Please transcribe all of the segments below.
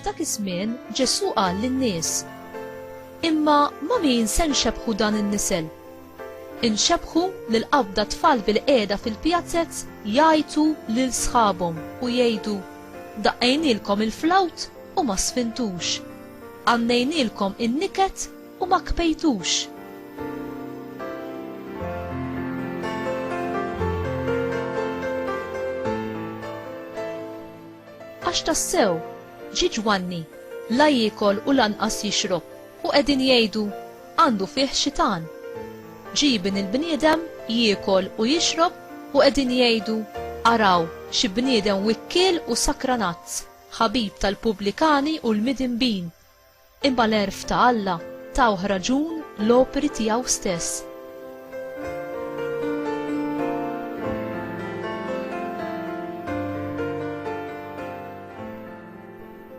F'dak iż-żmien Ġesù qal lin-nies, Imma ma' min se nxebbħu dan in-nisel? Inxebbħu lil qabda tfal bil-qiegħda fil-pjazez jgħajtu lil sħabhom u jgħidu, Daqqejnielkom il-flawt u ma sfintux. Għannejnielkom in-niket U ma kpejtux! Għax tassew, ġie Ġwanni, la jiekol u lanqas jixrob, u qegħdin jgħidu, Għandu fih xitan. Ġie Ibn il-bniedem, jiekol u jixrob, u qegħdin jgħidu, Araw, xi bniedem wikkiel u sakranazz, ħabib tal-pubblikani u l-midinbin! Imma l-għerf ta' Alla tawh raġun l-opri tiegħu stess.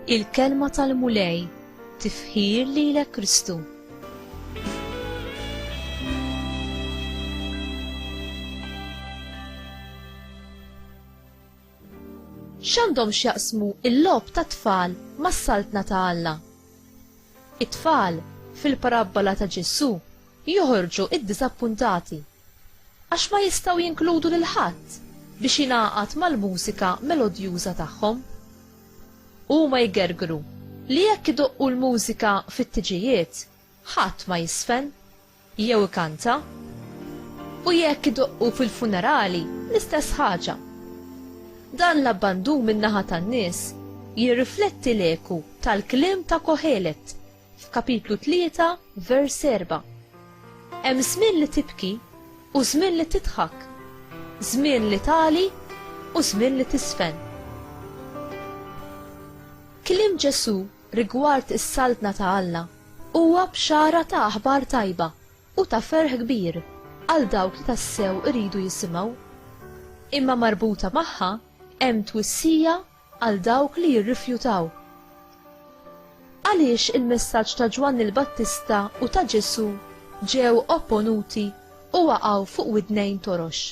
Il-Kelma tal-Mulej, tifħir lilek Kristu. X'għandhom x'jaqsmu l-logħob tat-tfal mas-Saltna ta' Alla? It-tfal, fil-parabbola ta' Ġesù, joħorġu ddiżappuntati għax ma jistgħu jinkludu lil ħadd biex jingħaqad mal-mużika melodjuża tagħhom. Huma jgergru li jekk idoqqu l-mużika fit-tiġijiet, ħadd ma jiżfen. jew ikanta, u jekk idoqqu fil-funerali l-istess ħaġa. Dan l-abbandun min-naħa tan-nies jirrifletti l-eku tal-kliem ta' Kohelet f'kapitlu 3 vers 4. Hemm żmien li tibki u żmien li tidħak, żmien li tali u żmien li tisfen. Kliem Ġesu rigward is-Saltna ta' Alla huwa bxara ta' aħbar tajba u ta' ferħ kbir għal dawk li tassew iridu jisimgħu. Imma marbuta magħha hemm twissija għal dawk li jirrifjutaw. Għaliex il-messaġġ ta' Ġwanni l-Battista u ta' Ġesù ġew opponuti u waqgħu fuq widnejn torox?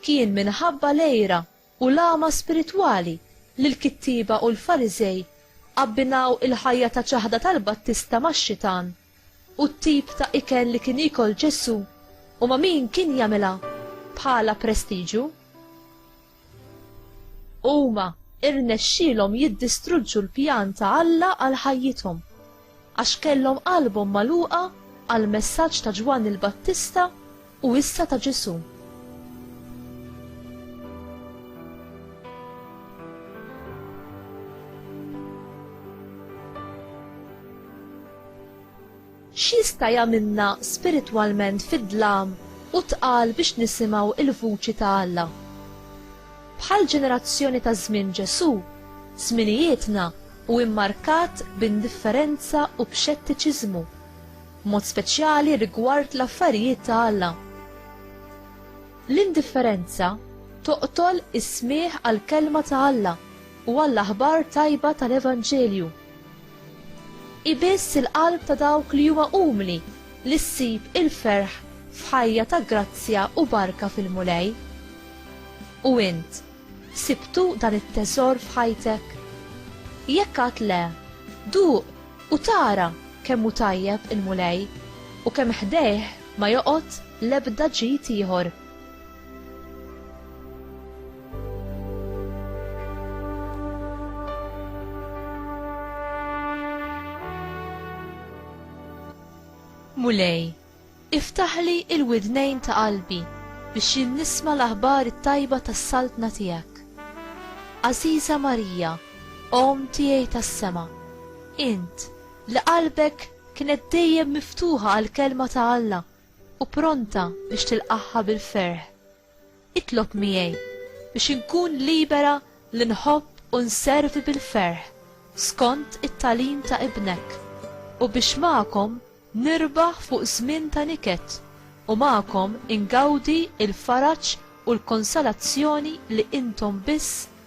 Kien minħabba l-għira u l-għama spiritwali li l-kittieba u l-Fariżej abbinaw il-ħajja ta' ċaħda tal-Battista max-xitan u t-tip ta' ikel li kien jiekol Ġesù u ma' min kien jagħmilha bħala prestiġu. Huma rnexxielhom jiddistruġġu l-pjan ta' Alla għal ħajjithom. Għax kellhom qalbhom magħluqa għall-messaġġ ta' Ġwanni l-Battista u issa ta' Ġesù. X'jista' jagħmilna spiritwalment fid-dlam u tqal biex nisimgħu l-vuċi ta' Alla? Bħall-ġenerazzjoni ta' żmien Ġesù, żminijietna u mmarkat b'indifferenza u b'xettiċiżmu, b'mod speċjali rigward l-affarijiet ta' Alla. L-indifferenza toqtol is-smigħ għall-kelma ta' Alla u għall-aħbar tajba tal-Evanġelju. Hi biss il-qalb ta' dawk li huma umli li ssib il-ferħ f'ħajja ta' grazzja u barka fil-Mulej. U int, Sibtu dan it-teżor f'ħajtek? Jekk għad le, duq u tara kemm hu tajjeb il-Mulej u kemm ħdejh ma joqgħod l-ebda ġid ieħor. Mulej, Iftaħli l-widnejn ta' qalbi biex jien nisma' l-aħbar it-tajba tas-Saltna tiegħek. Għażiża Marija, Omm tiegħi tas-sema, int, li qalbek kienet dejjem miftuħa għall-Kelma ta' Alla u pronta biex tilqagħha bil-ferħ, Itlob miegħi biex inkun libera li nħobb u nservi bil-ferħ skont it-tagħlim ta' Ibnek, u biex magħkom nirbaħ fuq żmien ta' niket u magħkom ingawdi l-faraġ u l-konsolazzjoni li intom biss